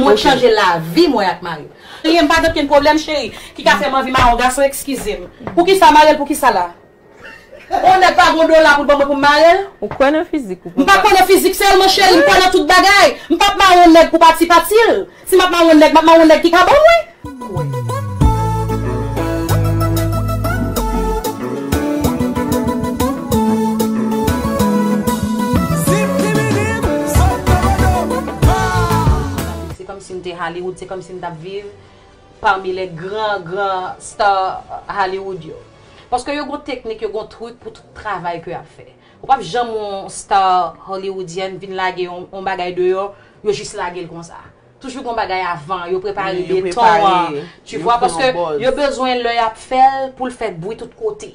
Mwen t chanje lavi mwen ak marim. Anyen m pa gen okenn pwoblèm cheri ki ka fè m anvi mare yon gason ekskize m. Poukisa w mare l poukisa la? On nèg pa gen yon dola pou l ban mwen pou m mare l? Ou kwè nan fizik ou papa? M pa kwè nan fizik sèlman cheri m kwè nan tout bagay. M pap mare yon nèg pou pati pati l. Si m ap mare yon nèg m ap mare yon nèg ki ka ban mwen. pou kwè. Se kòmsi m te Hollywood, se kòmsi m t ap viv pami lè gran gran star Hollywood yo. Paske yo gon teknik, yo gon trik pou tout travay ke y ap fè. Ou pap janm wè yon star Hollywoodyèn vin lage yon bagay deyò, yo jis lage l konsa. Toujou gon bagay avan, yo prepare beton an, tu vwa, paske yo bezwen lè y ap fè l pou l fè bwi tout kote.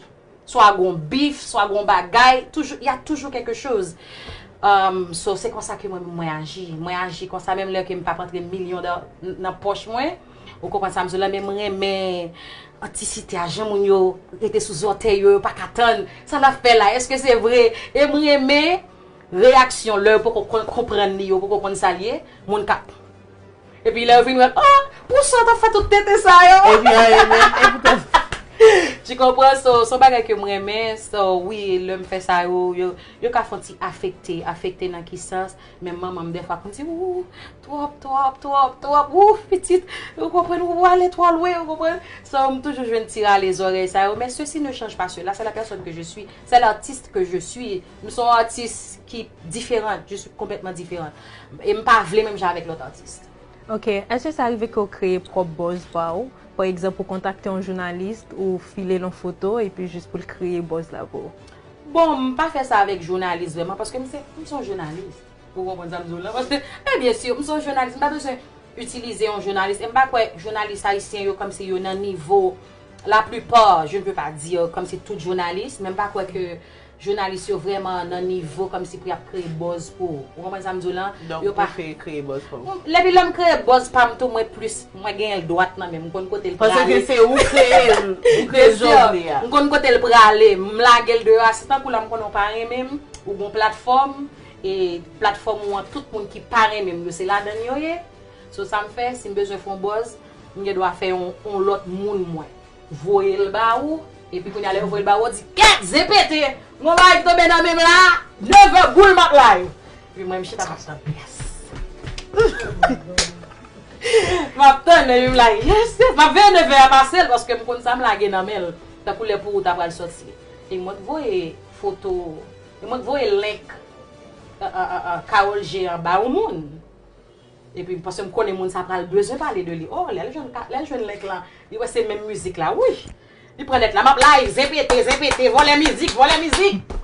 Swa gon bif, swa gon bagay, toujou, y a toujou kèlke choz. So, se konsa ke mwen menm mwen aji. Mwen aji konsa menm lè ke m pa p antre milyon dò nan pòch mwen. Ou konprann sa m di w la? Men m renmen antisite a, jan moun yo rete sou zòtèy yo, yo pa ka tann. Sa n ap fè la? Èske se vre? E m renmen. Reyaksyon lè yo poko konn konprann li yo poko konn sa l ye moun kap epi lè yo vin wè l oh pou sa w tap fè tout tenten sa yo epi an e menm e pou tèt. Tu konpran so son bagay ke m renmen so wi lè m fè sa yo yo ka fon ti afekte afekte nan ki sans menm manman m dèfwa konn di ooh twòp twòp twòp twòp ooh pitit ou konprann ou ale twò lwen ou konprann so m toujou jwenn ti rale zòrèy sa yo men sesi ne chanj pa sela se la pèsòn ke je sui se l'artiste que je suis. M son atis ki diferant, je suis complètement différente. E m pa vle menm jan avèk lòt atis. Ok, èske sa rive ke w kreye pwòp buzz pa w? Pa egzanp, ou kontakte yon journaliste, ou file l yon foto, epi jis pou l kreye buzz la pou w? Bon, m pa fè sa avèk journaliste vrèman, paske m se, m son journaliste. Ou konprann sa m di w la? Paske, men bien sûr, m son journaliste, m pa bezwen utilize yon journaliste, e m pa kwè journaliste ayisyen yo kòmsi yo nan nivo, la plupart, je ne peux pas dire kòmsi tout journaliste, men m pa kwè ke Jounalis yo vrèman nan nivo kòmsi pou yap kreye bòz pou ou konprann sam diw lan Donk ou fe kreye bòz pou ou. Lèpi lèm kreye bòz pam tou mwen plis mwen genyenl dwat nan menm mkonn kotel prale. Paske se ou kreyel ou kreye jovni a. Mkonn kotel prale mlagel deyò a se tankou la mkonnen ou pa renmenm ou gon platfòm e platfòm ou an tout moun ki pa renmenm yo se ladann yo ye so sam fè sim bezwen fon bòz mgen dwa fè yon lòt moun mwen voyel ba ou epi kounya lè yo voyel ba ou ou di kèt zen pete gon bagay ki tonbe nan menm la neveu boule map la yo epi mwen m chita map tann pyès huumm map tann epi m la yes yes map veye neveu a pasel paske m konn sam lage nan menl tankou lè pou ou ta pral soti e mwen k voye foto e mwen k voye link karol jean ba yon moun. Epi paske m konnen moun sa pral bezwen pale de li oh lè l jwenn lè l jwenn link lan li wè se menm mizik la wouyy li pran nèt la map live zen pete zen pete vòlè mizik vòlè mizik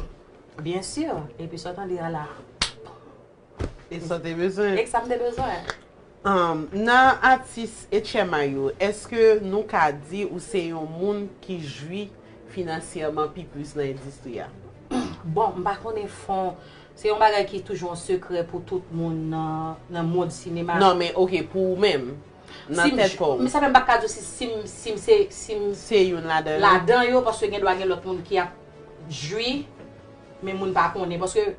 byen sûr epi sa w tande a la e sa w te bezwen e sa m te bezwen humm nan atis etchema yo eske nou ka di ou se yon moun ki jwi finansyèman pi plis nan endistri a bon m pa konnen fon Se yon bagay ki toujou an sekrè pou tout moun nan mond sinema a. Non men ok pou ou menm, nan tèt kò ou. Sa fè m pa t ka di w si si m se si m se youn ladan yo ladan yo paske gendwa gen lòt moun ki ap jwi men moun pa konnen paske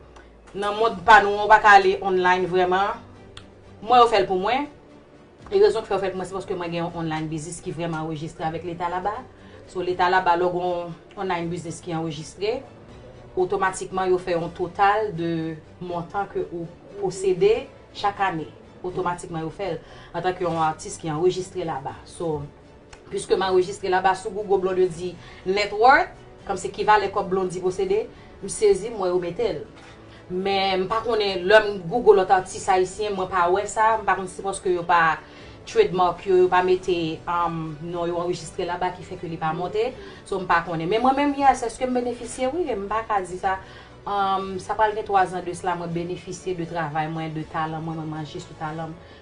nan mond pa nou an ou pa ka ale online vrèman. Mwen yo fè l pou mwen. E rezon ki fè yo fèt mwen se paske mwen gen yon online business ki vrèman anrejistre avèk leta laba. So leta laba lè w gen yon online business ki anrejistre, otomatikman yo fè yon total de montan ke ou posede chak ane. Otomatikman yo fè l antanke yon atis ki anrejistre laba. So. Pwiske m anrejistre la ba sou Google Blondedy net worth, kòmsi ki valè kòb Blondy posede, m sezi m wè yo mete l. Men m pa konnen lè m Google lòt atis ayisyen mwen pa wè sa, m pa konn si se paske yo pa trademark yo, yo pa mete non yo anrejistre la ba ki fè ke li pa monte, so m pa konnen. Men mwen menm yes, eske m benefisye? Wi e m pa ka di sa. Sa pral gen 3 zan de sla mwen benefisye de travay mwen, de talan mwen, mwen manje sou talan m.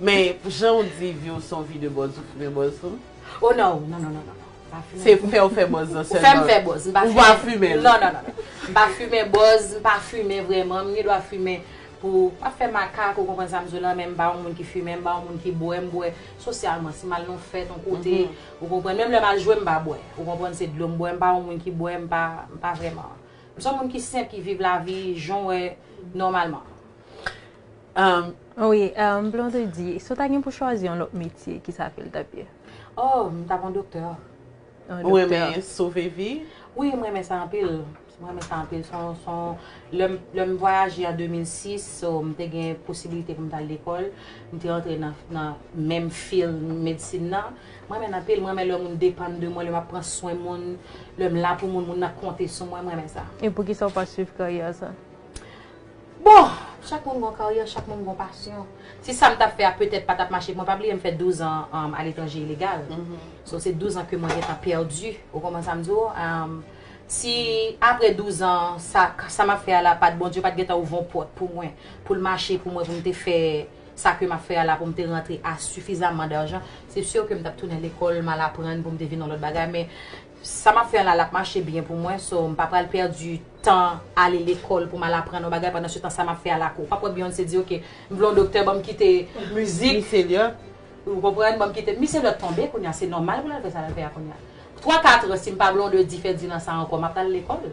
Men pou jan ou di vi ou son vi de bòz ou fimen bòz tou? Oh non, non non non non. Se pou fèw fè bòz lan sèlman. Ou fèm fè bòz, m pa fimen. Ou pa fimen l. Non non non. M pa fimen bòz, m pa fimen vrèman, m gen dwa fimen pou ap fè makak ou konprann sa m di w lan men m pa yon moun ki fimen, m pa yon moun ki bwè, m bwè sosyalman si m al nan yon fèt yon kote ou konprann, menm lè m al jwe m pa bwè ou konprann se dlo m bwè, m pa yon moun ki bwè, m pa, m pa vrèman. M son moun ki senp ki viv lavi jan w wè nòmalman. Wi, Blondedy, si w ta gen pou chwazi yon lòt metye, ki sa fil tap ye? Oh, m tap yon doktè. Ou renmen sove vi? Wi, m renmen sa anpil. M renmen sa anpil. Lè m vwayaje an 2006, so m te gen posibilite pou m tal lekòl, m te antre nan menm fil medsin nan. M renmen l anpil. M renmen lè moun depann de mwen, lè m ap pran swen moun, lè m la pou moun, moun nan konte sou mwen. M renmen sa. E poukisa w pa swiv karyè sa? Bon! Chak moun gon karyè, chak moun gon pasyon. Si sa m t ap fè a petèt pa t ap mache, mwen pa bliye m fè douzan aletranje ilegal. So se douzan ke mwen gentan pèdi. Ou konprann sa m di w? Si apre douzan sa, sa m ap fè a la pa t, Bondye pa t gentan ouvè yon pòt pou mwen, pou l mache pou mwen pou m te fè sa ke m ap fè a la, pou m te rantre a sifizaman dajan, se sur ke m t ap tounen lekòl, m al aprann pou m te vin yon lòt bagay. Men. Sa map fè an la lap mache byen pou mwen so m pa pral pèdi tan ale lekòl pou m al aprann yon bagay pandan se tan sa map fè a lakou. Ou pap wè Beyoncé di ok m vle yon doktè banm kite mizik. Missy Elliot. Ou konprann banm kite Missy Elliot tonbe kounya se nòmal pou l al fè sa l al fè a kounya. Twa katran si m pa Blondedy Ferdinand sa ankò map al lekòl.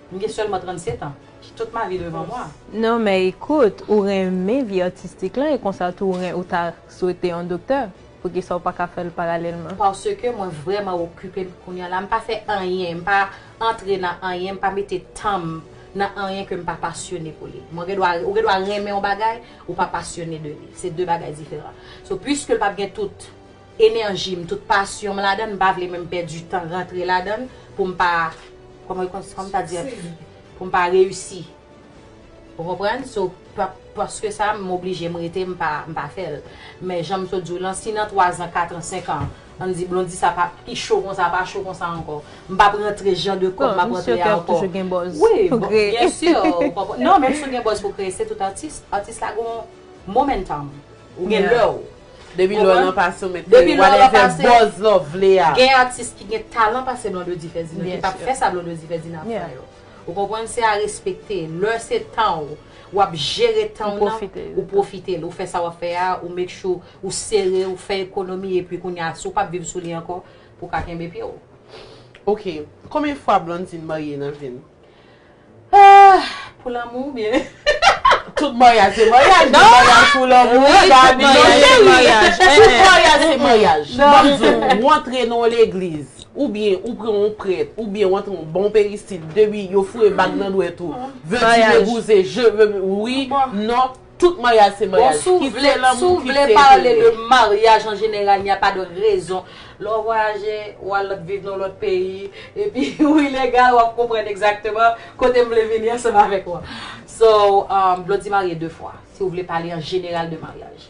M gen sèlman 37 ans. J tout ma vie devan moi. Non men ekout ou renmen vi atistik lan e konsa tou ou ta swete yon doktè. Poukisa ou pa ka fè l paralèlman? Paske mwen vrèman okipe m kounye a la. M pa fè anyen. M pa antre nan anyen. M pa mete tan m nan anyen ke m pa pasyone pou li. Mwen gen dwa, ou gen dwa renmen yon bagay, ou pa pasyone de li. Se de bagay diferan. So, piske l pa p gen tout enèji m, tout pasyon m ladan l, m pa vle menm pèdi tan rantre ladan l pou m pa, kòman, kòman ta di a, pou m pa reyisi. Ou konprann? So, paske sa, m oblije m rete m pa, m pa fè l. Men jan m sot di w lan, si nan twazan, katran, senkan, ann di Blondy sa pa, ki cho konsa, pa cho konsa ankò, m p ap rantre jan de kòb m ap rantre a ankò. Bon, misye kèk toujou gen buzz pou kreye. Wi, byen sûr, ou konprann. Non, menm si w gen buzz pou kreye, se tout atis. Atis la gon momentum. Ou gen lè w. Depi lè w lan pase, ou mèt kreye whatever buzz la w vle a. Gen atis ki gen talan pase Blondedy Ferdinand, ki p ap fè sa Blondedy Ferdinand ap fè yo. Ou konprann se a respekte. Lè se tan ou, wap jere tan ou nan, ou pwofite l, ou fè sa wap fè a, ou make sure ou sere, ou fè ekonomi epi kounye a si w pap viv sou li ankò, pou ka kenbe pye w. Ok, konbyen fwa Blandine marye nan vi l? Ahh! Pou lanmou oubyen? Tout maryaj se maryaj, men maryaj pou lanmou wi Gaby non cheri! Tout maryaj se maryaj. Banm di w, ou antre nan yon legliz. Ou byen ou pran yon prèt ou byen ou antre yon bon peristil depi yo foure bag nan dwèt ou veux tu me gouse je veux oui non tout maryaj se maryaj kite lanmou kite tenten. Bon si w vle pale de maryaj an jeneral n'y a pas de raison lè w vwayaje ou al viv nan yon lòt peyi epi ou ilegal w ap konprann egzakteman kote m vle vini ansanm avèk ou an. So vle w di marye 2 fwa si w vle pale an jeneral de maryaj.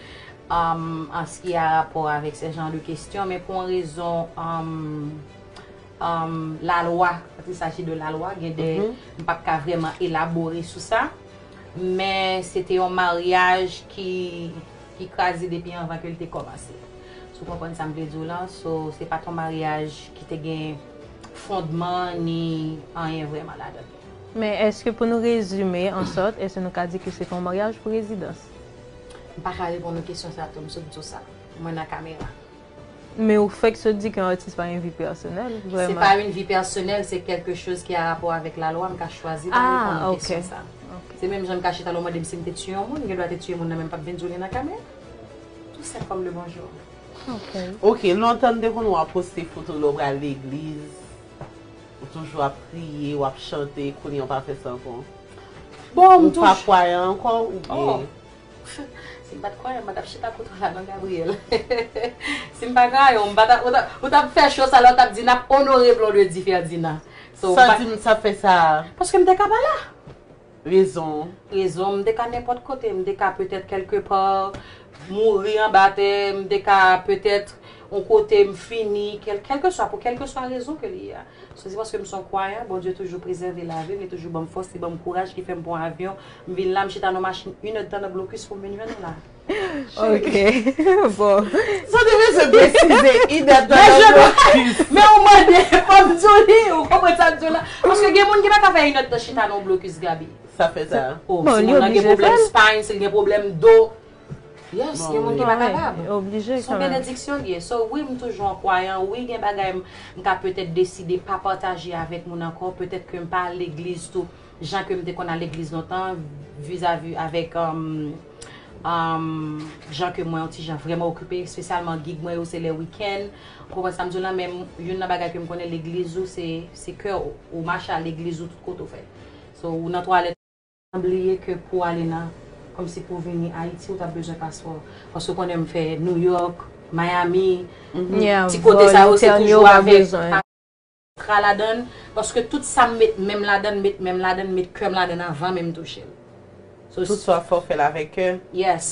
an ski a rapò avèk sè jan de kestyon men pou an rezon la lwa kòt il saji de la lwa gen de m pap ka vreman elabore sou sa men se te yon maryaj ki kraze depi anvan ke l te kòmanse sou konprann sa m vle di w lan so se pat yon maryaj ki te gen fondman ni anyen vreman ladan l. Men eske pou nou rezime an sòt eske nou ka di ke se te yon maryaj pou rezidans. M paka reponn ou kesyon sa tou, m sot di w sa. Mwen nan kamera. Men ou fèk sot di ke yon atis pa gen vi pèsonèl, vrèman. Se pa yon vi pèsonèl, se kèlke choz ki a rapò avèk lalwa, m ka chwazi pa reponn ou kesyon sa. Se menm jan m ka chita la ou mande m si m te tiye yon moun, m gen dwa te tiye yon moun nan men m pap vin di w li nan kamera. Tou senp kòm le bonjou. Ok. Ok, lontan m te konn wè w poste foto lè w pral legliz. Ou toujou ap kriye, ou ap chante, kounye ou pa fè sa ankò? Bon, m toujou. Ou pa kwayan ankò ou byen. Oh! Si m pa t kwayan, m pa t ap chita kote w la non Gabriel. Si m pa kwayan w, m pa t ap, ou t ap fè show sa la, ou t ap di n ap onore Blondedy Ferdinand. Sa di m sa fè sa? Paske m te ka pa la. Rezon. Rezon, m te ka nenpòt kote, m te ka petèt kèlke pa, mouri anba tè, m te ka petèt yon kote m fini, kèlkeswa, pou kèlkeswa rezon ke li ye a. Se te paske m se yon kwayan, Bondye toujou prezève lavi m, li toujou ban m fòs, li ban m kouraj ki fè m pran avyon, m vin la, m chita nan yon machin inèdtan nan blokis pou m vin jwenn nou la. Sa te bezwen presize i dat nan nòt blokis. Men ou mande fò m di w li, ou konprann sa m di w la. Paske gen moun ki pa ka fè i nòt nan chita nan blokis Gaby. Sa fè sa. O, si moun nan gen pwoblèm spine, si l gen pwoblèm do. Yes, gen moun ki pa kapab. S on benediksyon l ye. So wi m toujou yon kwayan, wi gen bagay m ka petèt deside pa pataje avèk moun ankò, petèt ke m pa al legliz tou. Jan ke m te konn al legliz lontan, vizavi avèk jan ke mwen yon ti jan vrèman okipe, espesyalman gig mwen yo se lè wikenn. Ou konprann sa m di w lan? Men youn nan bagay ke m konnen legliz ou se kè w. Ou mache al legliz ou tout kote ou fè. So ou nan twalèt. M bliye ke pou w ale nan, kòmsi pou w vini Ayiti ou t ap bezwen paspò. Paske ou konnen m fè Nouyòk, Miami, ti kote sa yo se toujou avèk. Tra ladann paske tout sam met menm ladann met menm ladann met kèm ladann avan menm touchel so Tout sa fè w fèl avèk kè. Yes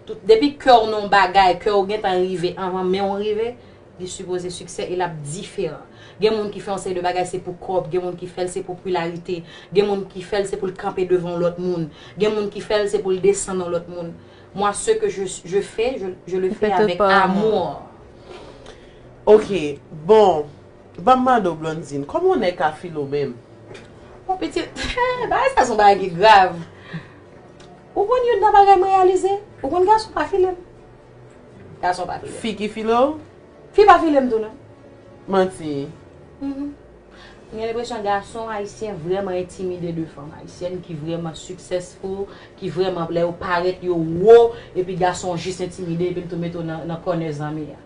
tout depi kèw nan yon bagay kèw gentan rive avan menw rive li sipoze siksè e lap diferan gen moun ki fè yon seri de bagay se pou kòb gen moun ki fèl se pou pularite gen moun ki fèl se poul kanpe devan yon lòt moun gen moun ki fèl se poul desann yon lòt moun mwa se ke je je fè je le fè avèk amour. Ok bon Banm mande w Blondine, kòman yon nèg ka file w menm? Bon pitit, bagay sa son bagay ki grav. Ou konn youn nan bagay m reyalize? Ou konn gason pa file m. Gason pa file m. Fi ki file w? Fi pa file m tou non. Manti. M gen lenpresyon gason ayisyen vrèman entimide de fanm ayisyèn ki vrèman successful, ki vrèman lè yo parèt yo wo, epi gason jis entimide epi l tou mete w nan kònè zanmi a.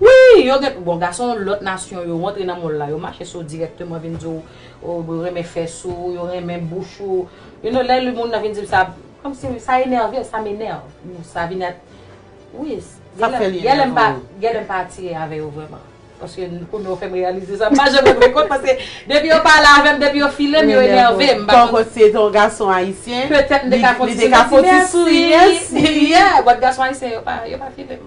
Wi! Yo gen, bon gason lòt nasyon yo rantre nan mòl la, yo mache sou ou dirèkteman vin di w yo renmen fè sou ou, yo renmen bouch ou. You know, lè moun nan vin di m sa, kòmsi sa enève, sa m'enerve. Sa vin èt, wi, Sa fè li enève w. Gen lè m pa atire avè yo vrèman. Paske kounye w fè m reyalize sa, m pa janm rann mwen kont paske depi yo pale avè m, depi yo file m, yo enève m. Tank ou se te yon gason ayisyen, petèt m te ka fon ti souri, ti mèsi, yeah, but gason ayisyen yo pa file m.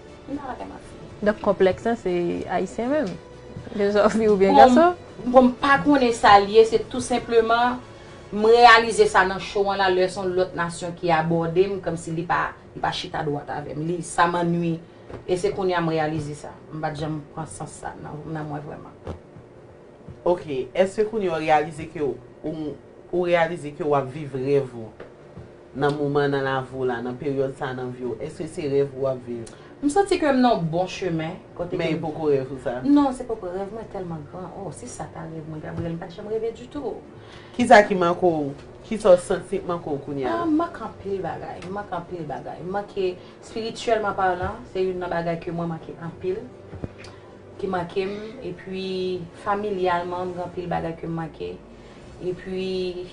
M pa bagay map di. Donk konplèks lan se ayisyen menm? Ke sa w fi oubyen gason? Bon m pa konnen sa l ye se tou senpleman m reyalize sa nan show an la lè son lòt nasyon ki abòde m kòmsi li pa li pa chita dwat avè m li sa m annwi e se kounye a m reyalize sa m pat janm pran sans sa nan mwen vrèman. Ok eske kounye a w reyalize ke w ou reyalize ke w ap viv rèv ou? nan moman nan lavi w la, nan peryòd sa nan vi w, èske se rèv ou ap viv? M santi ke m nan yon bon chemen. Men e poko rèv ou sa? Non, se poko rèv mwen tèlman gran. Oh, si sa ta rèv mwen, Gabriel, m pa t janm reve ditou. Kisa ki manke w? Kisa w santi k manke w kounye a? M manke anpil bagay. M manke anpil bagay. M manke, spirityèlman palan, se youn nan bagay ke mwen manke anpil, ki manke m. Epi, familyalman, m gen anpil bagay ke m manke. Epi,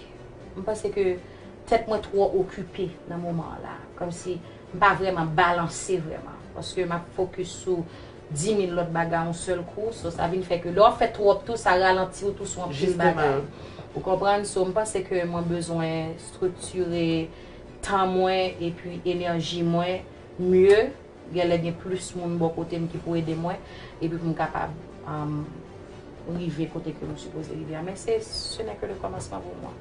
m panse ke tèt mwen twò okipe nan moman an la. Kòmsi m pa vrèman balanse vrèman. Paske m ap fokis sou dimil lòt bagay yon sèl kou. So, sa vin fè ke lè w ap fè twòp tou, sa ralanti w tou sou anpil bagay. Ou konprann? So, m panse ke mwen bezwen striktire tan mwen epi enèji mwen mye. Genlè gen plis moun bò kote m ki pou ede mwen epi pou m kapab rive kote ke m sipoze rive a. Men se se nè ke le kòmansman pou mwen.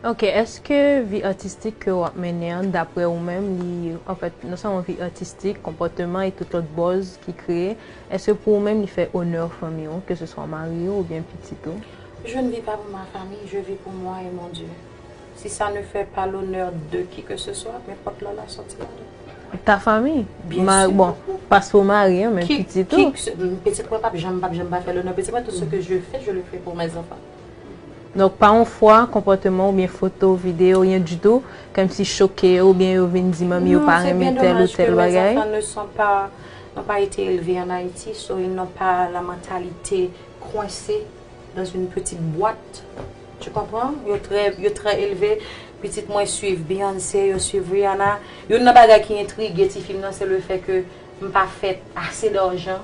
Ok, eske vi atistik ke w ap mennen an dapre ou menm li anfèt non sèlman vi atistik, konpòteman e tout lòt bòz ki kreye, eske pou ou menm li fè onè fanmi ou ke se swa mari ou oubyen pitit ou? Je ne vis pas pour ma famille, je vis pour moi et mon Dieu. Si sa ne fè pa lonè de ki ke se swa, men pòt la la sòti la dan. Ta fanmi. Byen si. Bon, pas pou mari an, men pitit ou. Ki, ki, pitit mwen pap janm, pap janm pa fè lonè pitit mwen, tout se ke je fè, je le fè pou mè zanfan. Donk pa yon fwa konpòteman ou byen foto, video, ryen ditou, kèm si choke yo ou byen yo vin di manmi yo pa renmen tèl ou tèl bagay? Non, se byen domaj ke mè zanfan ne son pa, n'on pa ete elve an Ayiti, so ils n'ont pas la mentalité coincée dans une petite boîte. Tu konpran? Yo trè, yo trè elve. Pitit mwen swiv Beyoncé, yo swiv Rihanna. Youn nan bagay ki entrige ti fi m nan se le fè ke m pa fèt ase darjan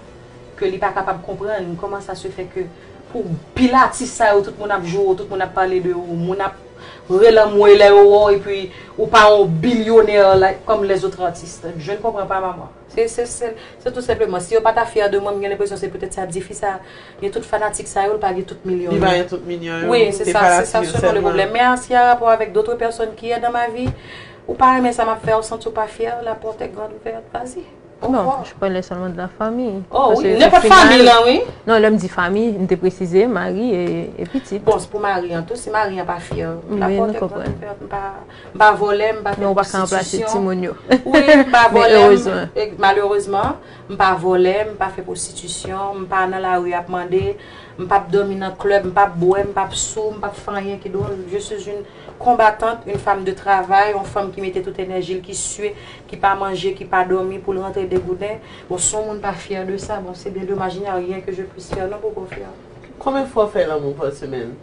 ke li pa kapab konprann kòman sa se fè ke pou pil atis sa yo tout moun ap joure w, tout moun ap pale de ou, moun ap relanmwe lè yo wè w epi ou pa yon billionaire like kòm les autres artistes. Jeune konpran pa maman. Se tou senpleman, si yo pa ta fyè de mwen, m gen lenpresyon se petèt sa di fi sa gen tout fanatik sa yo, l pa gen tout milyon yo. Li pa gen tout milyon yo. Wi, se sa, se sa selon le pwoblèm. Men si a rapò avèk dotre pèsòn ki è dan ma vi, ou pa renmen sa m ap fè, ou santi w pa fyè, la pòt è grand ouverte, vas-y. Non, je parlais seulement de la famille. Oh oui, nenpòt fanmiy lan wi. Non, lè m di fanmiy, m te presize mari e pitit. Bon, se pou mari an tou, si mari an pa fyè, la pòt è grand ouverte, m pa. M pa vòlè, m pa fè pwostitisyon, wi, m pa vòlè, malerezman, m pa vòlè, m pa fè pwostitisyon, m pa nan lari ap mande, m pap dòmi nan klèb, m pap bwè, m pap sou, m pap fè anyen ki dwòl. Je sou youn konbatant, youn fam de travay, youn fam ki mete tout enèji l, ki sue, ki pa manje, ki pa dòmi pou l rantre degouden. Bon, si youn moun pa fyè de sa, bon, se byen domaj, il n'y a rien que je puisse faire, non, Boko Frè? Konbyen fwa w fè lanmou pa semèn?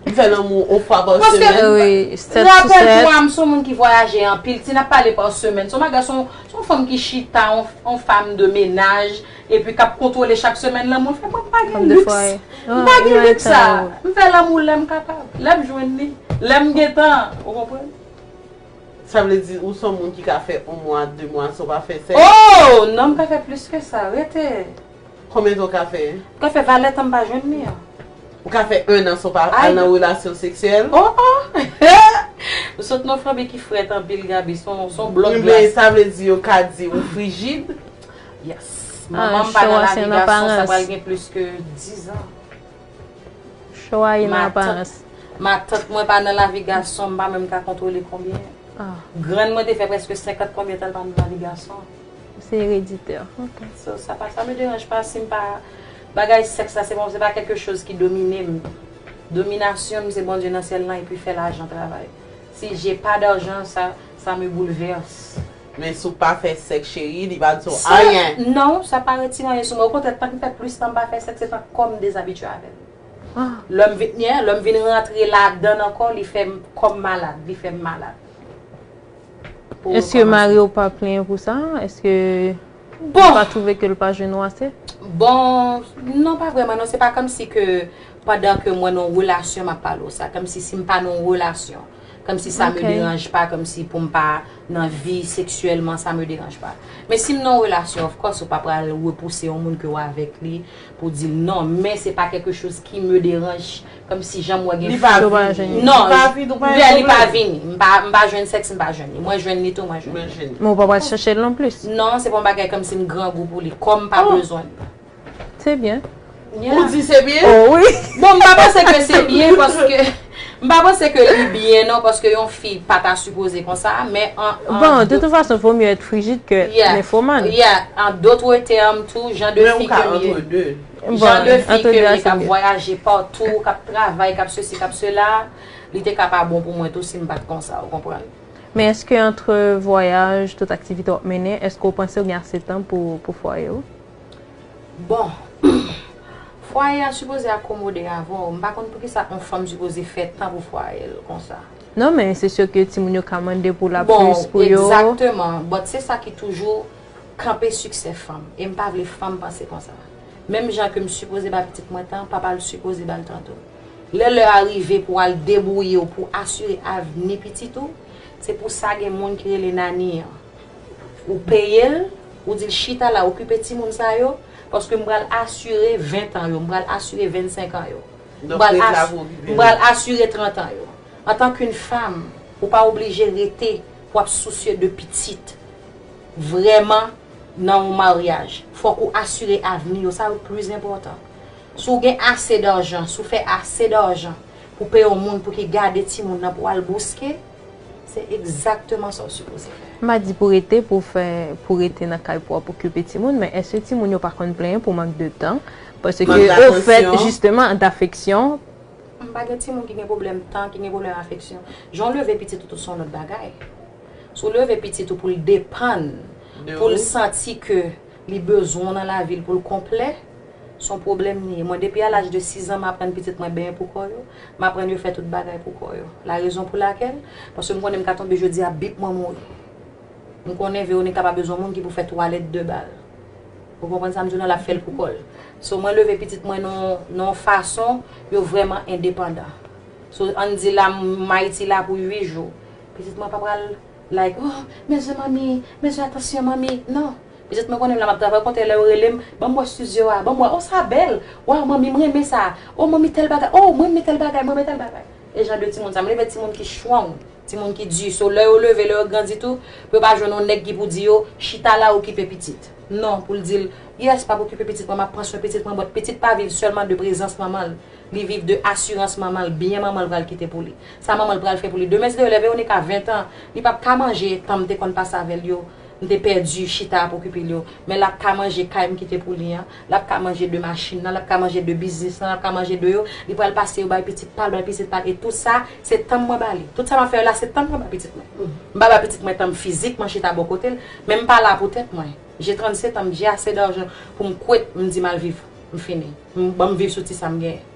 M fè lanmou on fwa pa semèn. Rapèl pou a m son moun ki vwayaje anpil. Si n ap pale pa semèn, son bagay son on fanm ki chita, on fam de menaj epi k ap kontwole chak semèn lanmou l fè. Mwen pa gen liks. M pa gen liks sa. M fè lanmou lè m kapab. Lè m jwenn li. Lè m gen tan. Ou konprann? Sa vle di ou son moun ki ka fè on mwa, de mwa san w pa fè sèks? Oh! Non m ka fè plis ke sa. Rete. Konbyen tan w ka fè? M ka fè valè tan m pa jwenn li an. Ou ka fè 1 an san w pa al nan relasyon seksyèl? Oh oh! Ou sot non fanmi ki frèt anpil Gaby son blòk glas. Rimen sa vle di yo ka di ou frijid? Yes. Manman m pa nan lavi gason sa pral gen plis ke 10 ans. Show a in aparans. Matant mwen pa nan lavi gason m pa menm ka kontwole konbyen. Grann mwen te fè preske 50 konbyen tan l pa nan lavi gason. Ou se ereditè ok. So sa pa sa me deranj pa sim pa bagay sèks la se pa se pa kèlke choz ki dominem dominasyonm se Bondye nan syèl lan epi fè lajan travay si je pa darjan sa sa me boulvers. Men si w pa fè sèks cheri li pa di w anyen. Non sa pa retire anyen sou mwen okontrè tank m fè plis tan m pa fè sèks se tank kòm dezabitye avèm lèm vin lèm vin rantre ladann ankò li fèm kòm malad li fèm malad. pou yo Eske kòmanse. mari w pa plenyen pou sa? Eske li Bon! pa twouve ke l pa jwenn ou ase? Bon, non pa vrèman non, se pa kòmsi ke pandan ke mwen nan yon relasyon m ap pale w sa. Kòmsi si m pa nan yon relasyon, kòmsi sa me Ok. deranj pa, kòmsi pou m pa nan vi seksyèlman sa me deranj pa. Men si m nan yon relasyon, of course ou pa pral repouse yon moun ke w avèk li, Pou di l non, men se pa quelque chose qui me dérange, kòm si jan m wè gen fi. Li pa vini. Non, lè li pa vini. M pa jwenn sèks, m pa jwenn li. Mwen jwenn li tou, mwen jwenn li. Men w pa pral chèche l non plis. Non, se pa yon bagay kòm si m grangou pou li. Kò m pa bezwen l. Se byen. Ou di se byen? O wi. Bon, m pa panse ke se byen paske. M pa panse ke li byen non paske yon fi pa ta sipoze konsa men an Bon de tout fason vo mye èt frijid ke ninfoman. Yeah en d'autres termes tou jan de fi ke m ye jan de fi ke m ye kap vwayaje partout kap travay kap sesi kap sela li te ka pa bon pou mwen tou si m pat konsa ou konprann. Men eske entre vwayaj tout aktivite wap mennen eske ou panse ou gen ase tan pou fwaye ou? Bon Fwaye a sipoze akomode avè w, m pa konn poukisa on fanm sipoze fè tan pou fwaye l konsa. Non men se syo ke timoun yo ka mande pou la plis pou yo. Bon egzakteman, but se sa ki toujou kanpe siksè fanm e m pa vle fanm panse konsa. Menm jan ke m sipoze ba pitit mwen tan, papa l sipoze ba l tan tou. Lè lè a rive pou al debwouye w pou asire avni pitit ou, se pou sa gen moun ki rele nanny an. Ou peyel, ou dil chita la okipe timoun sa yo, paske m pral asire 20 tan yo, m pral asire 25 an yo, m pral asire 30 an yo. Antank yn fam, ou pa oblije rete pou ap sousye de pitit. Vrèman nan yon maryaj, fòk ou asire avni yo, sa yo plis enpòtan. Si w gen ase darjan, si w fè ase darjan pou peye yon moun pou ki gade timoun nan pou al bouske, Se egzakteman sa w sipoze fè. M pa di pou rete pou fè pou rete nan kay pou ap okipe timoun men èske timoun yo pa konn plenyen pou mank de tan paske ofèt jisteman dafeksyon. M pa gen timoun ki gen pwoblèm tan ki gen pwoblèm afeksyon jan w leve pitit ou tou se yon lòt bagay si w leve pitit ou pou l depann pou l santi ke li bezwen w nan lavi l pou l konplè. Son pwoblèm li ye. Mwen depi a laj de 6 zan m aprann pitit mwen benyen pou kò yo, m aprann yo fè tout bagay pou kò yo. La rezon pou lakèl, paske m konnen m ka tonbe jodi a bip mwen mouri. M konnen Veronica pa bezwen moun ki pou fè twalèt de ba l. Ou konprann sa m di w nan l ap fè l pou kò l. So mwen leve pitit mwen nan yon fason yo vrèman endepandan. So an n di la m Ayiti la pou 8 jou. Pitit mwen pa pral like oh men zen manmi, men zen atansyon manmi, non. Petèt mwen konnen m la m ap travay ou kontre lè yo rele m ban m wè studio a ban m wè o sa bèl waw manmi m renmen sa o manmi tèl bagay o m renmen tèl bagay m renmen tèl bagay e jan de timoun sa m reve timoun ki strong timoun ki di so lè yo leve lè yo grandi tou pou yo pa jwenn on nèg ki pou di yo chita la okipe pitit non pou l di l yes pap okipe pitit mwen m ap pran swen pitit mwen but pitit pa viv sèlman de prezans manman l li viv de asirans manman l byen manman l pral kite pou li sa manman l pral fè pou li demen si yo lè Veronica 20 tan li pap ka manje tan m te konn pase avè l yo M te pèdi chita ap okipe l yo. Men l ap ka manje kay m kite pou li an. L ap ka manje de machin nan. L ap ka manje de biznis lan. L ap ka manje de yo. Li pral pase yo bay pitit pa l, bay pitit pa l. E tout sa, se tan mwen ba li. Tout sa m ap fè yo la, se tan mwen ba pitit mwen. M pa ba pitit mwen tan m fizik, mwen chita bò kote l. Men m pa la pou tèt mwen. J'ai 37 ans, j'ai assez d'argent pou m kwet, m di m al viv. M fini. Ban m viv sou ti sa m genyen.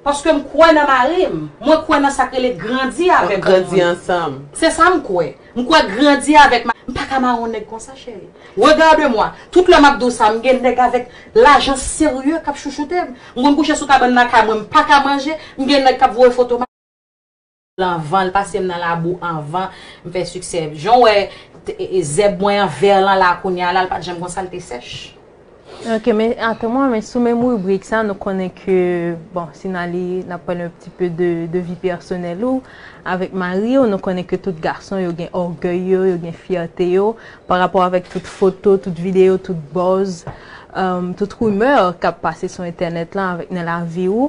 Paske m kwè nan mari m. Mwen kwè nan sa k rele grandi avèk yon moun. Nap grandi ansanm. Se sa m kwè. M kwè grandi avèk mari m. M pa ka mare yon nèg konsa cheri. Regarde moi. Tout lè m ap di w sa, m gen nèg avèk lajan serye k ap chouchoute m. M konn kouche sou kabann lakay mwen, m pa ka manje, m gen nèg k ap voye foto m. Anvan l pase m nan labou anvan m fè siksè jan w wè zèb mwen an vè lan la kounya la l pat janm konsa l te sèch. Ok men atann mwen men sou menm ribrik sa nou konnen ke bon si n ale n ap pale yon ti pe de vi pèsonèl ou avèk mari w nou konnen ke tout gason yo gen ògèy yo yo gen fyète yo pa rapò avèk tout foto tout videyo tout buzz tout rumeur k ap pase sou entènèt lan avèk nan lavi w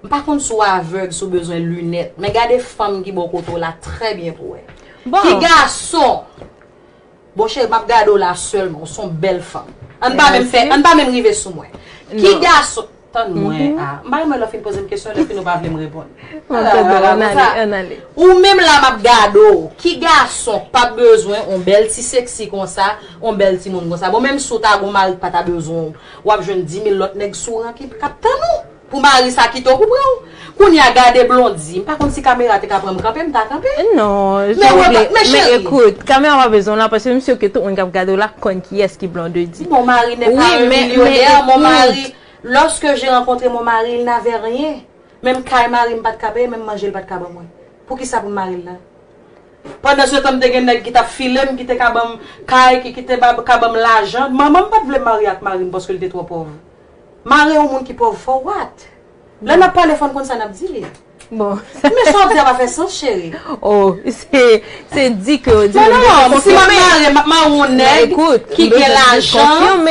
M pa konn si w avèg, si w bezwen linèt, men gade fanm ki bò kote w la trè byen pou w wè. Ki gason! Bon cheri, m ap gade w la sèlman, w s on bèl fanm. An n pa menm rive sou mwen. Ki gason! Tann mwen a. M pa renmen lè w fin poze m kesyon epi nou pa vle m reponn. Ou menm la m ap gade w. Ki gason k pa bezwen on bèl ti seksi konsa, on bèl timoun konsa? Bon menm si w ta gou mari k pa ta bezwen w. Wap jwenn dimil lòt nèg sou ran ki kap tann ou pou mari sa kite w pou pran w. Kounya gade Blondie, m pa konn si kamera te ka pran m kanpe, m ta kanpe. Non, jan ou vle, men ekout, kamera pa bezwen w la paske m sur ke tout moun kap gade w la konn kiyès ki Blondedy. Mon mari n'est pas un millionnaire, mon mari, lorsque j'ai rencontré mon mari il n'avait rien, menm kay mari m pat ka peye, menm manje l pat ka ban mwen. Poukisa pou m mari l la? Pandan se tan m te gen nèg ki t ap file m, ki te ka ban m kay, ki ki te ka ban m lajan. Manman m pa t vle m marye ak mari m paske l te twò pòv. Mare yon moun ki pòv for what? Lè n ap pale fò n konn sa n ap di li. Men sa w ap di a pa fè sans cheri. Oh, se di ke w di men m bezwen konfime. Non, si m ap mare, m ap mare yon nèg ki gen lajan.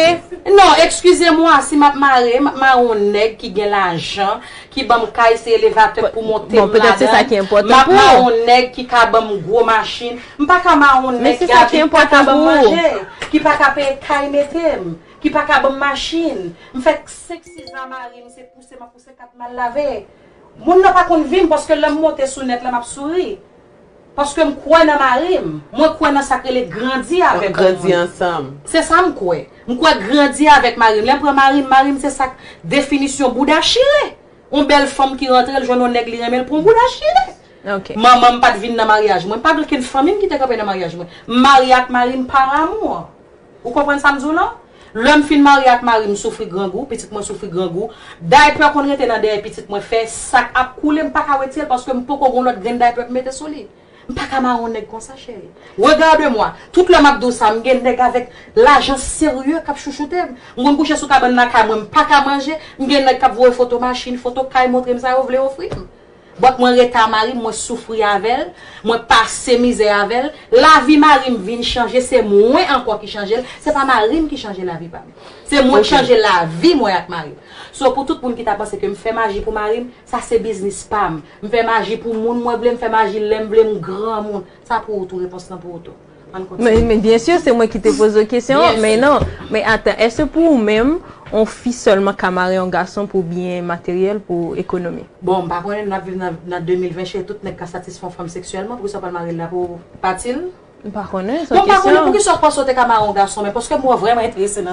Non, ekskize mwa, si m ap mare, m ap mare yon nèg ki gen lajan. ki banm kay se elevatè pou montem ladann, map mawon nèg ki ka banm gwo machin, m paka mawon nèg ki avim paka banm manje, ki paka peye kay metem, ki paka banm machin, m fè 5 6 zan marim se pouse map pouse 4 mal lave. Moun nan pa konn vim paske lèm monte sou nèt la map souri. Paske m kwè nan mari m. Mwen kwè nan sa k rele grandi avèk yon moun. Nap grandi ansanm. Se sa m kwè. M kwè grandi avèk mari m. Lè m pran mari m, mari m se sa k definisyon bouda chire. Yon bèl fanm ki rantre l jwenn yon nèg li renmen l pran yon bouda chire. Manman m pa t vin nan maryaj mwen. Pa gen okenn fanmi m ki te kanpe nan maryaj mwen. M marye ak mari m par amour. Ou konprann sa m di w lan? Lè m fin marye ak mari m, m soufri grangou, pitit mwen soufri grangou. Daypè konn rete nan dèyè pitit mwen fè sa k ap koule m pa ka wetire l paske m poko gen yon lòt grenn daypè pou m mete sou li. M pa ka mare yon nèg konsa cheri. Regarde moi! Tout lè m ap di w sa, m gen nèg avèk lajan serye k ap chouchoute m. M konn kouche sou kabann lakay mwen, m pa ka manje, m gen nèg k ap voye foto machin, foto kay montre m sa yo vle ofri m. But mwen rete a marim mwen soufri avel mwen pase mizè avel lavi marim vin chanje se mwen anko ki chanjel se pa marim ki chanje lavi pam se mwen ki chanje lavi mwen ak marim so pou tout moun ki ta panse kem fè maji pou marim sa se biznis pam m fè maji pou moun mwen vle m fè maji lem vle m granmoun sa pou ou tou repons lan pou ou tou. Men byen sur se mwen ki te poze w kesyon an, men non, men atan, eske pou ou menm, on fi sèlman ka mare on gason pou byen materyèl, pou ekonomi? Bon, m pa konnen, nap viv nan 2020 cheri, tout nèg ka satisfè on fanm seksyèlman, poukisa w pral mare l la pou pati l? M pa konnen, son kesyon. Non m pa konnen poukisa w panse w te ka mare on gason, men paske m wè w vrèman enterese nan.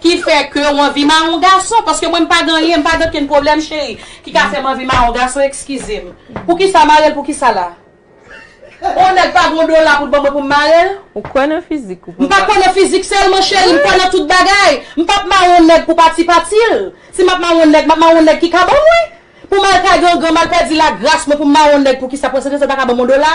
Ki fè ke w anvi mawon gason? Paske mwen m pa gen anyen, m pa gen okenn pwoblèm cheri, ki ka fè m anvi mawon gason, ekskize m. Poukisa mare l poukisa la? On nèg pa gen on dola pou l ban mwen pou m mare l? Ou kwè nan fizik ou papa? M pa kwè nan fizik sèlman cheri, m kwè nan tout bagay. M pa p mare on nèg pou pati pati l. Si m ap mare on nèg, m ap mare on nèg ki ka ban mwen. Pou m al kay gangan, m al pèdi lagras mwen pou m mare on nèg poukisa? Pou yon sèten sa l pa ka ban m on dola?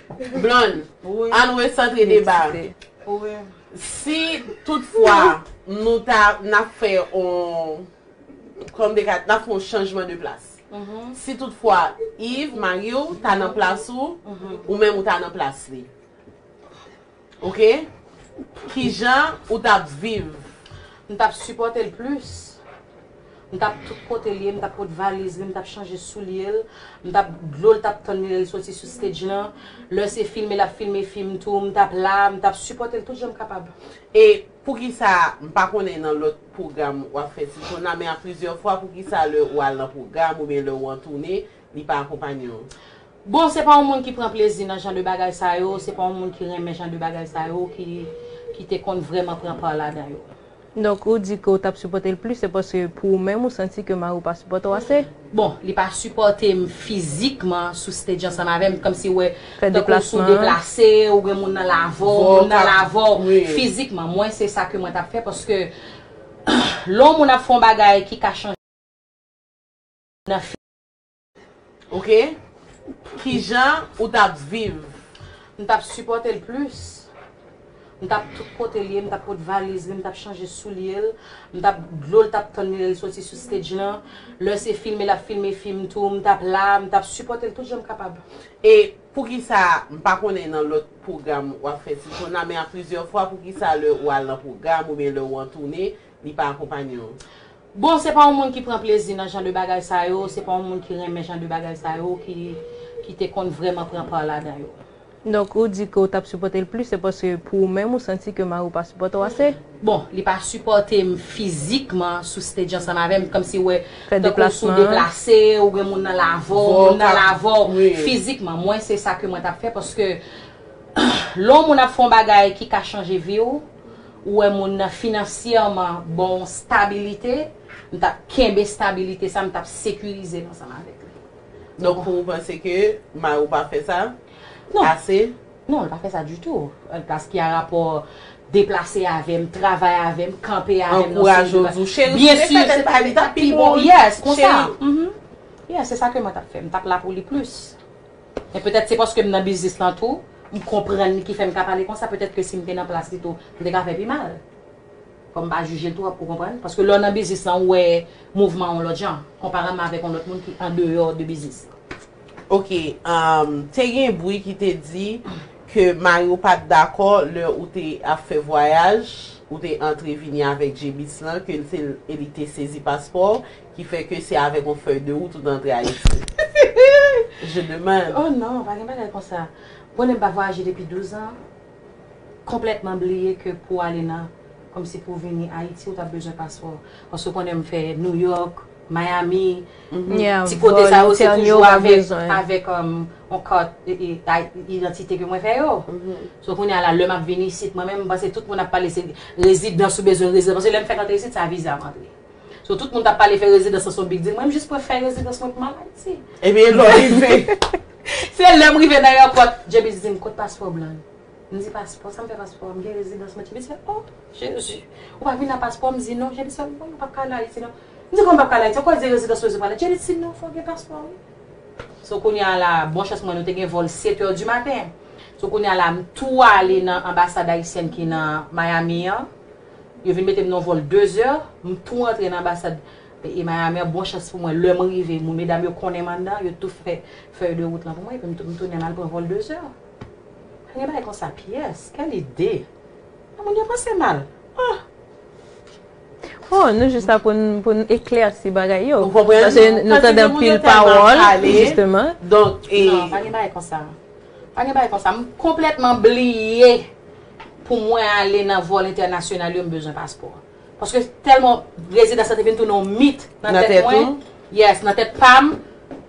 Blonde, ann resantre deba a. Si tout fwa nou ta, n ap fè on, kòm de kat, n ap fè on chanjman de plas. Si tout fwa Yves, mari w, ta nan plas ou, ou menm ou ta nan plas li. Ok kijan ou tap viv. M tap sipòtel plis m tap tout kotel ye m tap pot valiz li m tap chanje soulyel m tap dlol tap tann li lèl soti sou stage lan lè se filme lap filme fim tou m tap la m tap sipòtel tout janm kapab. E poukisa m pa konnen nan lòt pwogram wap fè ti sonn la men a plizyè fwa poukisa lè ou al nan pwogram oubyen lè ou an toune li pa akonpanye w. Bon se pa yon moun ki pran plezi nan jan de bagay sa yo, se pa yon moun ki renmen jan de bagay sa yo ki ki te konn vrèman pran pa ladan yo. Donk ou di ke w tap sipòte l plis se paske pou ou menm ou santi ke mari w pa sipòte w ase? Bon, li pa sipòte m fizikman sou stage yo ansanm avè m, kòmsi ou wè tankou si w deplase, ou gen moun nan lavè w, moun nan lavè w fizikman. Mwen se sa ke mwen tap fè paske lè yon moun ap fè yon bagay ki ka chanje nan fi. Ok kijan ou tap viv. M tap sipòte l plis m tap tout kote l ye m tap pot valiz li m tap chanje soulye l m tap dlo l tap tann li lè l soti sou stage lan lè se filme lap filme fim tou m tap la m tap sipòte l tout jan m kapab. E poukisa m pa konnen nan lòt pwogram wap fè ti jòn la men a plizyè fwa poukisa lè ou al nan pwogram oubyen lè ou an toune li pa akonpanye w. Bon se pa yon moun ki pran plezi nan jan de bagay sa yo, se pa yon moun ki renmen jan de bagay sa yo ki ki te konn vrèman pran part ladan yo. Donk ou di ke ou tap sipòte l plis se paske pou ou menm ou santi ke mari w pa sipòte w ase? Bon, li pa sipòte m fizikman sou stage ansanm avè m, kòmsi ou wè Fè tankou w sou deplasman. deplase, ou gen moun nan lave w, moun nan lave w, fizikman. Mwen se sa ke mwen tap fè paske lè yon moun ap fè yon bagay ki ka chanje vi w, ou wè moun nan finansyèman ba w stabilite, m t ap kenbe stabilite sa, m t ap sekirize l ansanm avèk li. Donk ou panse ke mari w pa fè sa ase? Non, l pa fè sa ditou. Plas ki a rapò deplase avè m, travay avè m, kanpe avè m. Ankouraje w tou. Cheri, si w te fè tèt bay li, li t ap pi bon. Yes, konsa. Cheri. Yes, se sa ke mwen t ap fè. M t ap la pou li plis. Men petèt se paske m nan biznis lan tou, m konprann li ki fè m ka pale konsa, petèt ke si m te nan plas li tou, m te ka fè pi mal. Fò m pa jije l twòp, ou konprann? Paske lè w nan biznis lan, ou wè mouvman yon lòt jan, konparèman avèk yon lòt moun ki andeyò de biznis lan. Ok, te gen bri ki te di ke mari w pa t dakò lè ou te ap fè vwayaj, ou te antre vini avèk J-Bis lan, ke l te e li te sezi paspò w, Ki fè ke se avèk yon fèy de wout ou te antre Ayiti? Je demande. Oh non, pa gen bagay konsa. Konnen m pa vwayaje depi 12 an, konplètman bliye ke pou ale nan, kòmsi pou vini Ayiti ou t ap bezwen paspò. Paske ou konnen m fè New York, Miami, ti kote sa yo se toujou avèk, avèk yon kat idantite ke mwen fè yo. So kounye a la, lè m ap vini isit, mwen menm m panse tout moun ap pale se rezidans ou bezwen rezidans. Paske lè m fèk antre isit, se a viza m antre. So tout moun tap pale fè rezidans lan son big deal mwen m jis pran fèy rezidans mwen pou m al Ayiti. Epi e lè w rive. Se lè m rive nan èpòt James di m kot paspò blan yo? M di paspò sa m fè paspò a m gen rezidans mwen James fè oh Jezi ou pa vin a paspò m di non James fè m woy ou pap ka al Ayiti non m di kòman m pap ka al Ayiti ankò di rezidans mwen se pou ale James di non fò gen paspò wi So kounye a la bon chans mwen nou te gen vòl 7 heures du matin So kounye a la m tou ale nan anbasad ayisyèn ki nan Miami an. Yo vin mete m nan yon vòl 2 zè, m tou antre nan anbasad peyi Miami an. Bon chans pou mwen, lè m rive, moun medam yo konnen m anndan, yo tou fè fèy de wout lan pou mwen, epi m tou m tounen m al pran vòl 2 zè. Pa gen bagay konsa pyès, kèl ide! Men moun yo panse mal. Oh! Oh, nou jis la pou n pou n eklèsi bagay yo. Ou konprann? Pase nou tande anpil pawòl, jisteman. Donk, e. Non, pa gen bagay konsa. Pa gen bagay konsa, m konplètman bliye pou mwen ale nan vòl entènasyonal yo m bezwen paspò. Paske tèlman rezidans la te vin tounen yon mit nan tèt mwen, yes nan tèt pam,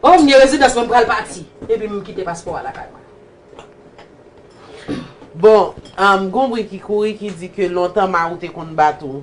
oh m gen rezidans mwen m pral pati, epi m kite paspò a lakay mwen. Bon, gon bri ki kouri ki di ke lontan Marou te konn bat ou.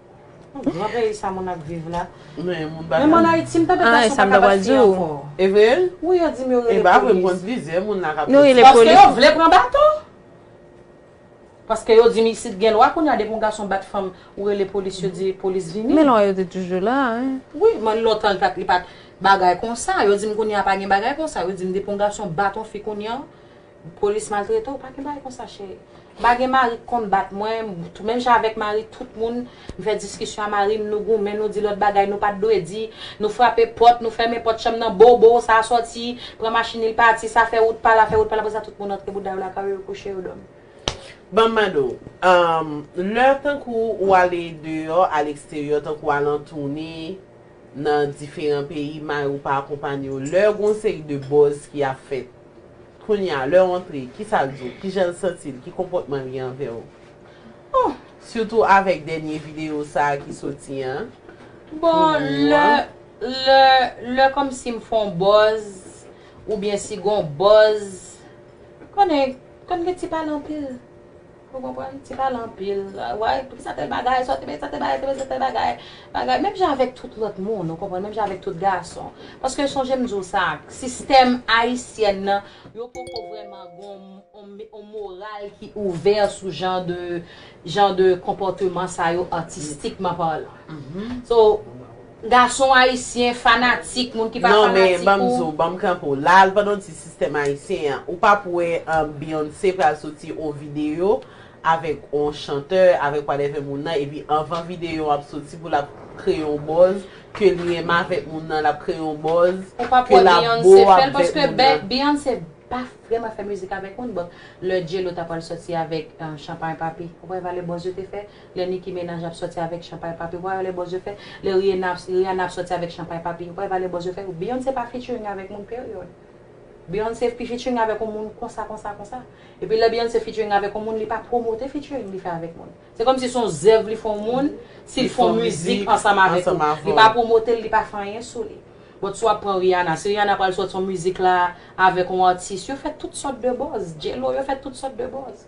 Gran peyi sa moun ap viv la. Men mwen Haiti m tande gason pa ka bat fi anko. Wi yo dim yo rele polis. Paske yo vle pran baton. Paske yo dim isit gen lwa kounya depi yon gason bat fanm ou rele polis yo di polis vini. Men lwa yo te toujou la. Wi men lontan li pat bagay konsa. Yo dim kounya pa gen bagay konsa. Yo dim depi yon gason bat yon fi kounya. Police maltrete w pa gen bagay konsa cheri m pa gen mari k konn bat mwen menm jan avèk mari tout moun m fè diskisyon a mari m nou goumen nou di lòt bagay nou pat dwe di nou frape pòt nou fèmen pòt chanm nan bo bo sa sòti pran machin li l pati sa fè wout pala fè wout pala apre sa tout moun antre bouda yo lakay yo yo kouche yo dòmi. Banm mande w lè tankou ou ale deyò a leksteryò tankou al an toune nan diferan peyi mari w pa akonpanye w lè gon seri de bòz ki ap fèt Kounye a, lè w antre, ki sa l di w? Ki jan l santi l? Ki konpòtman l gen anvè w? Oh! Sitou avèk dènye videyo sa a ki soti an, pou ou an. Bon, lè, lè kòmsi m fè yon bòz, oubyen si gen yon bòz, konnen, konn gen ti pale anpil. Ou konprann? Ti pale anpil. Way, pou ki sa tèl bagay, sa w te bezwen, sa tèl bagay, sa w te bezwen, tèl bagay, bagay. Menm jan avèk tout lòt moun, ou konprann, menm jan avèk tout gason. Paske sonje m di w sa, sistèm ayisyèn nan, yo poko vrèman gon on moral ki ouvè sou jan de, jan de konpòteman sa yo atistikman palan. So. Gason ayisyen fanatik moun ki pa fanatik ou. Non men banm di w banm kanpe w la al pandan w di sistèm ayisyen an ou pap wè Beyoncé pral soti on videyo avèk on chantè avèk whatever moun nan epi anvan videyo an ap soti pou lap kreye on buzz ke li renmen avèk moun nan lap kreye on buzz ke lap beau avèk moun nan. Ou pap wè Beyoncé fè l paske Beyoncé pa vrèman fè mizik avèk moun bon lè J-Lo ta pral soti avèk Champagne Papi ou pa wè valè buzz yo te fè Lè Nicki Menaj ap sòti avèk Chanpay Papi, ou pa wè lè bòz yo fè? Lè Rihanna, Rihanna ap sòti avèk Chanpay Papi, ou pa wè lè bòz yo fè? Beyoncé pa featuring avèk moun period. Beyoncé pi featuring avèk yon moun konsa konsa konsa. Epi lè Beyoncé featuring avèk yon moun li pa pwomote featuring li fè avèk moun. Se kòmsi son zèv li fè yon moun, si l fè yon mizik ansanm avèk ou, li pa pwomote l, li pa fè anyen sou li. But si w ap pran Rihanna, si Rihanna pral sòti yon mizik la avèk yon atis, yo fè tout sòt de bòz. J-Lo, yo fè tout sòt de bòz.